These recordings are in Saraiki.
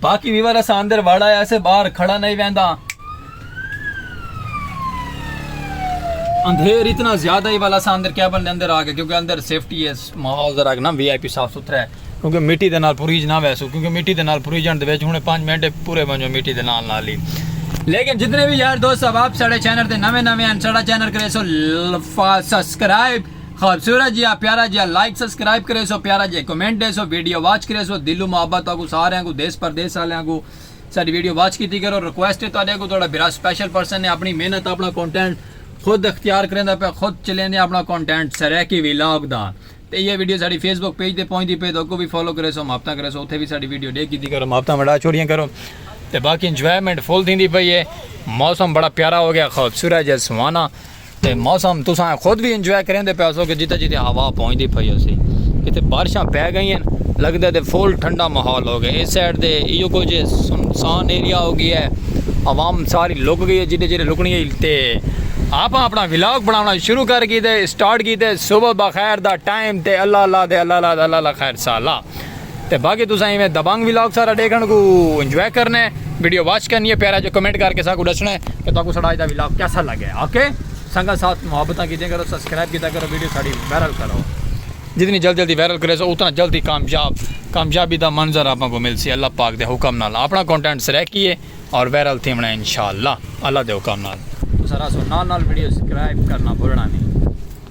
باقی ویور اساں اندر وڑ آیا سے باہر کھڑا نہیں ویندا اندھیر اتنا زیادہ ہی والا اساں اندر کیبن دے اندر آ گئے کیونکہ اندر سیفٹی ہے ماحول ذرا نا وی آئی پی صاف ستھرا ہے کیونکہ مٹی دے نال پوریج نہ ویسو کیونکہ مٹی دے نال پوریجن دے وچ ہن 5 منٹ پورے ونجو مٹی دے نال نال ہی لیکن جتنے بھی یار دوست صاحب آپ ساڑے چینل تے نویں نویں ہیں ساڑا چینل کرے سو سبسکرائب خوبصورت جیہا پیارا جیہا لائک سبسکرائب کریسو پیارا جیہا کمنٹ ڈیسو ویڈیو واچ کریسو دلوں محبت تہاکوں ساریاں کوں دیس پردیس آلیاں کوں ساڈی ویڈیو واچ کیتی کرو ریکویسٹ ہے تہاڈے کوں تہاڈا بھرا سپیشل پرسن ہے اپنی محنت اپنا کانٹینٹ خود اختیار کریندا پیا خود چلیندے اپنا کانٹینٹ سرائیکی ولاگ دا تے ایہ ویڈیو ساڈی فیس بک پیج تے پہنچدی پئی تہاکوں وی فالو کریسو محبتاں کریسو اتھے وی ساڈی ویڈیو ڈے کیتی کرو محبتاں ونڈا چھوڑیاں کرو تے باقی انجوائمنٹ فل تھیندی پئی ہے موسم بڑا پیارا ہو گیا خوبصورت جیہا سہانا تے موسم تساں خود وی انجوائے کریندے پئے ہوسو کہ جتے جتے ہوا پہنچدی پئی ہوسی کتے بارشاں پئے گئین لگدے تے فل ٹھنڈا ماحول ہو گئے اس سائیڈ تے ایہو کجھ ہے سنسان ایریا ہو گیا ہے عوام ساری لک گئی ہے جتے جتے لکنی ہے تے آپاں اپنا ولاگ بناونا شروع کر گیتے سٹارٹ کیتے صبح بخیر دا ٹائم تے اللہ اللہ تے اللہ اللہ تے اللہ اللہ خیر سالا۔ تے باقی تساں ایویں دبنگ ولاگ سارا ڈیکھن کوں انجوائے کرنا ہے ویڈیو واچ کرنی ہے پیارا جو کمنٹ کر کے ساکو ڈسنا ہے کہ تاکو ساڈا اج دا ولاگ کیسا لگے اوکے سنگت ساتھ محبتاں کیتے کرو سبسکرائب کیتا کرو ویڈیو ساڈی وائرل کرو جتنی جلدی جلدی وائرل کرے سو اتنا جلدی کامیاب کامیابی دا منظر آپ کو مل سی اللہ پاک دے حکم نال اپنا کانٹینٹ سرے کیے اور وائرل تھی ہونا انشاءاللہ اللہ دے حکم نال تو سارا سو نال نال ویڈیو سبسکرائب کرنا بھولنا نہیں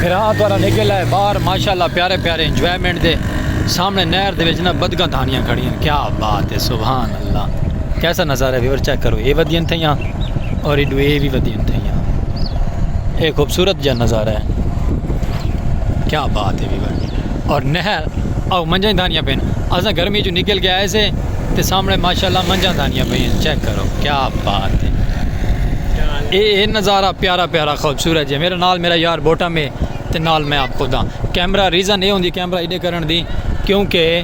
بھرا تہاڈا نکل آئے باہر ماشاءاللہ پیارے پیارے انجوائمنٹ دے سامنے نہر دے وچ نا بدگاں دھانیاں کھڑی ہیں کیا بات ہے سبحان اللہ کیسا نظارہ ہے ویور چیک کرو اے ودین تھے یہاں اور ایڈو اے بھی ودین تھے یہاں اے خوبصورت جا نظارہ ہے کیا بات ہے ویور اور نہر او منجن دھانیاں پین ازاں گرمی جو نکل کے آئے سے تے سامنے ماشاء اللہ منجھاں دھانیاں پئی ہیں چیک کرو کیا بات ہے اے اے نظارہ پیارا پیارا خوبصورت جی میرے نال میرا یار بوٹا میں تے نال میں آپ خود ہاں کیمرہ ریزن اے ہوندی کیمرہ ایڈے کرن دی کیونکہ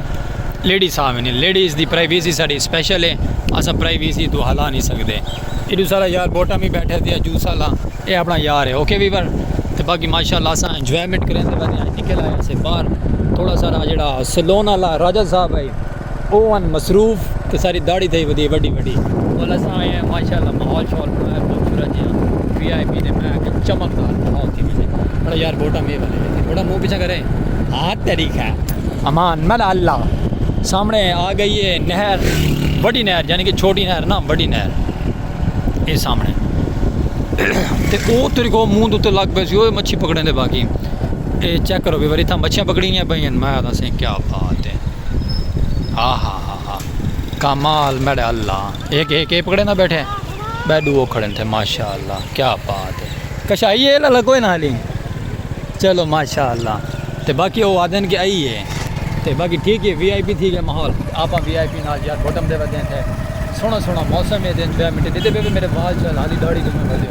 لیڈیز آویں نے لیڈیز دی پرائیویسی ساڈی سپیشل ہے اسا پرائیویسی تو ہلا نہیں سکدے ایڈو سارا یار بوٹا میں بیٹھے دیا جو سالا اے اپنا یار ہے اوکے ویور تے باقی ماشاء اللہ اسا انجوائمنٹ کریں دے بعد نکل آیا سے باہر تھوڑا سارا جڑا سلون والا راجہ صاحب ہے او ہن مصروف تے ساری داڑھی تھئی ودی ہے وڈی وڈی۔ ول اساں آئے ہیں ماشاءاللہ ماحول شاول بنڑایا ہے خوبصورت جیہاں وی آئی پی دے میں آکھیا چمکدار ماحول تھی ونجے مڑا یار ووٹاں میرے والے ویسے مڑا منہ پیچھے کرے ہاتھ تیری خیر امان مل اللہ سامنے آ گئی ہے نہر وڈی نہر یعنی کہ چھوٹی نہر نہ وڈی نہر اے سامنے تے او تیرے کو منہ دے تے لگ پئے سی اوئے مچھی پکڑیں دے باقی اے چیک کرو وی وری تھا مچھیاں پکڑی نی پئیاں میں آکھاں سائیں کیا بات ہے۔ آہاہاہا کمال میڈے اللہ ایک ایک ایک پکڑے نہ بیٹھے بے دو کھڑے تھے ماشاءاللہ کیا بات ہے کشائی ہے لگا کوئی نہ حالی چلو ماشاءاللہ تے باقی وہ آدن کے آئی ہے تے باقی ٹھیک ہے وی آئی پی تھی گئے ماحول آپ وی آئی پی نال یار بوٹم دے ودین تھے سونا سونا موسم ہے دین بے منٹے دیتے بے بے میرے وال چل حالی داڑی دے میں بھجے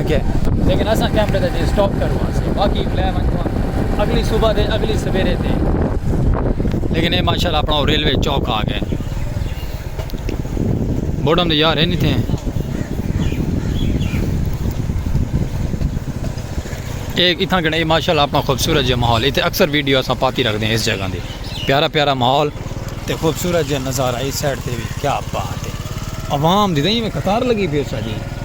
گئے لیکن اساں کیمرے دا جے سٹاپ کرواں سے باقی لے ونجواں اگلی صبح دے اگلی سویرے تے لیکن اے ماشاءاللہ اپنا او ریلوے چوک آ گئے بوڈم دے یار ہے نہیں تھے ایک اتھاں گنے ماشاءاللہ اپنا خوبصورت جے ماحول ایتھے اکثر ویڈیو اساں پاتی رکھ دیں اس جگہ دی پیارا پیارا ماحول تے خوبصورت جے نظارہ اس سائڈ تے بھی کیا بات ہے عوام دی دیں میں قطار لگی پی اس جی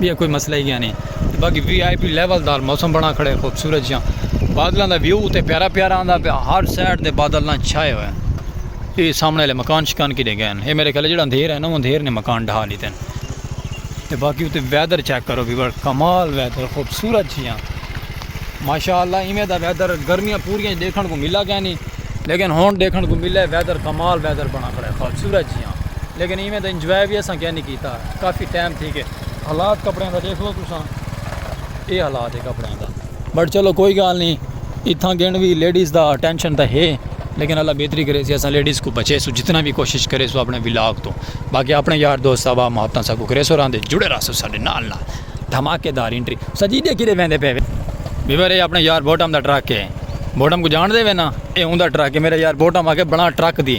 بیا کوئی مسئلہ ہی گیانی تے باقی وی آئی پی لیول دار موسم بنا کھڑے خوبصورت جیاں بادلاں دا ویو تے پیارا پیارا آندا پیا ہر سائیڈ دے بادل نہ چھائے ہوئے ہیں اے سامنے والے مکان شکان کی دے گئے ہیں اے میرے خیال جڑا اندھیر ہے نا اندھیر نے مکان ڈھا لیتے ہیں تے باقی تے ویدر چیک کرو بھی بڑا کمال ویدر خوبصورت جیاں ماشاءاللہ ایویں دا ویدر گرمیاں پوریاں دیکھن کو ملا گیا نہیں لیکن ہون دیکھن کو ملے ویدر کمال ویدر بنا کھڑے خوبصورت جیاں لیکن ایویں دا انجوائے بھی اساں کیا نہیں کیتا کافی ٹائم تھی گئے حالات کپڑیاں دا ڈیکھ لو تساں اے حالات ہے کپڑیاں دا بٹ چلو کوئی گال نی اتھاں گن وی لیڈیز دا ٹینشن تاں ہے لیکن اللہ بہتری کرے سی اساں لیڈیز کو بچے سو جتنا وی کوشش کرے سو اپنے ولاگ تو باقی اپنے یار دوست آوا محبتاں ساکو کرے سو راندے جڑے رہا سو ساڈے نال نال دھماکے دار انٹری سجی دے کیتے ویندے پے ویور اے اپنے یار بوٹم دا ٹرک ہے بوٹم کو جان دے وینا اے اوندا ٹرک ہے میرا یار بوٹم آ کے بنا ٹرک دی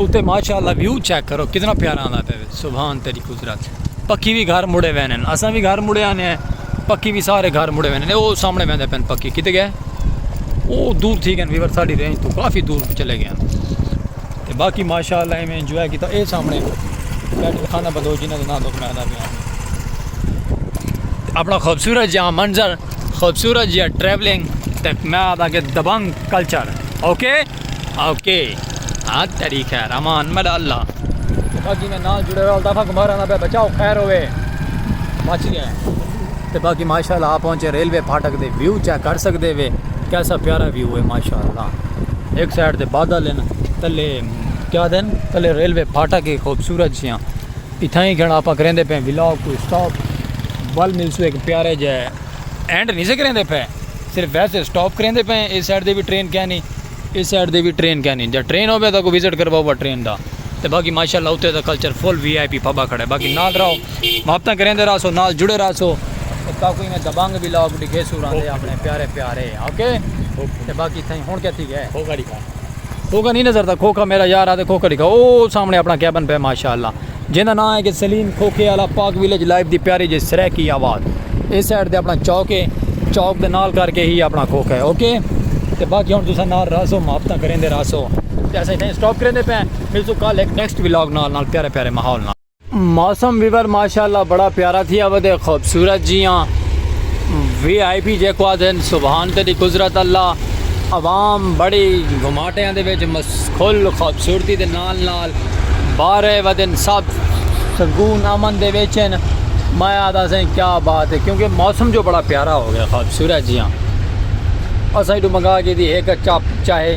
اتے ماشاءاللہ ویو چیک کرو کتنا پیارا آندا پے سبحان تیری قدرت پکی وی گھر مڑے وینے اساں وی گھر مڑے آنے ہیں پکی وی سارے گھر مڑے وینے او سامنے ویندے پن پکی کتے گئے او دور تھی گئے ویور ساڈی رینج تو کافی دور چلے گئے تے باقی ماشاءاللہ میں انجوائے کیتا اے سامنے بیٹھ خانہ بلوچ جنہاں دا نام دکھ میں آندا پیا اپنا خوبصورت جہاں منظر خوبصورت جیا ٹریولنگ تے میں آتا کہ دبنگ کلچر اوکے اوکے ہاں تیری خیر امان ملا اللہ باقی میں نال جڑے رہا دفعہ گمارا نہ پہ بچاؤ خیر ہوئے بچ گیا تے باقی ماشاءاللہ آپ پہنچے ریلوے پھاٹک دے ویو چیک کر سکدے وے کیسا پیارا ویو ہے ماشاءاللہ ایک سائیڈ تے بادل ہیں تلے کیا دن تلے ریلوے پھاٹک ہے خوبصورت جیاں اتھاں ہی گھن آپاں کریندے پئے ولاگ کوں اسٹاپ ول ملسوں ہک پیارے جے اینڈ نہیں سے کریندے پئے صرف ویسے اسٹاپ کریندے پئے اس سائیڈ دے وی ٹرین کینی اس سائیڈ دے وی ٹرین کینی جے ٹرین ہوے تاں کو وزٹ کرواؤ با ٹرین دا تے باقی ماشاءاللہ اوتھے دا culture full V I P پھبا کھڑے باقی نال رہو محبتاں کریندے رہسو نال جڑے رہسو تے تاکو ایویں دبنگ ولاگ ڈکھیسو راندے اپنے پیارے پیارے اوکے تے باقی تھیں ہن کیا تھی گئے کھوکھا نہیں نظر تھا کھوکھا میرا یار آتے کھوکھا لکھا او سامنے اپنا کیبن پہ ماشاءاللہ جن دا نام ہے کہ سلیم کھوکھے والا پاک ویلیج لائف دی پیاری جی سریکی آباد اس سائڈ دے اپنا چوک ہے چوک دے نال کر کے ہی اپنا کھوکھا ہے اوکے تے باقی ہن تساں نال راسو محبتاں کریں دے راسو تے اساں اتنے سٹاپ کریں دے پے ملسو کل ایک نیکسٹ ولاگ نال نال پیارے پیارے ماحول نال موسم ویور ماشاءاللہ بڑا پیارا تھیا ودے خوبصورت جیاں وی آئی پی جے کو آدھن سبحان تیری قدرت اللہ عوام بڑی گھماٹے آن دے ویچ مسخل خوبصورتی دے نال نال بارے ودن سب سکون امن دے ویچن میں آدھا سیں کیا بات ہے کیونکہ موسم جو بڑا پیارا ہو گیا خوبصورت جیاں اساں ایڈو منگا گی دی ایک چاپ چاہے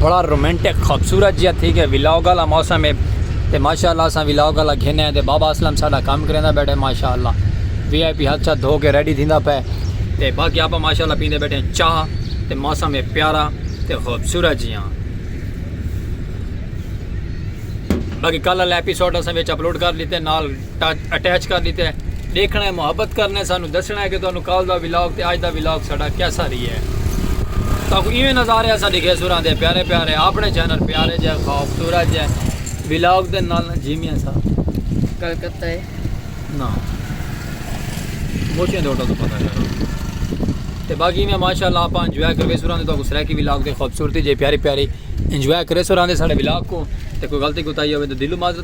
بڑا رومانٹک خوبصورت جیہا تھی گیا ولاگ والا موسم ہے تے ماشاءاللہ اساں ولاگ والا گھنے ہیں تے بابا اسلم ساڈا کام کریندا بیٹھے ماشاءاللہ وی آئی پی ہاتھ شاتھ دھو کے ریڈی تھیندا پے تے باقی آپا ماشاءاللہ پیندے بیٹھے ہیں چاہ تے موسم ہے پیارا تے خوبصورت جیہاں باقی کل والا ایپیسوڈ اساں وچ اپلوڈ کر لیتے نال ٹچ اٹیچ کر ڈیتا ہے ڈیکھنا ہے محبت کرنا ہے سانو دسنا ہے کہ تانوں کال دا ولاگ تے اج دا ولاگ ساڈا کیسا رہی ہے تاکو ایویں نظارے اسا ڈیکھے سوراں دے پیارے پیارے اپنے چینل پیارے جے خوبصورت جے ولاگ دے نال جیمی اسا گل کرتا ہے نا موچیں دے اٹھا تو پتہ کرو تے باقی میں ماشاءاللہ اپا انجوائے کروے سوراں دے تاکو سرائیکی ولاگ دے خوبصورتی جے پیاری پیاری انجوائے کرے سوراں دے ساڈے ولاگ کو تے کوئی غلطی کوتاہی ہوے تو دلو معذرت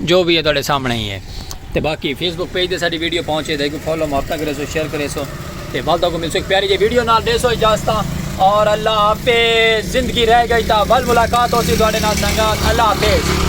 جو بھی ہے تہاڈے سامنے ہی ہے تے باقی فیس بک پیج تے ساڈی ویڈیو پہنچے تے کو فالو محبت کرے سو شیئر کرے سو تے ول کو مل سو ایک پیاری جی ویڈیو نال دے سو اجازت اور اللہ حافظ زندگی رہ گئی تا ول ملاقات ہو سی تہاڈے نال سنگت اللہ حافظ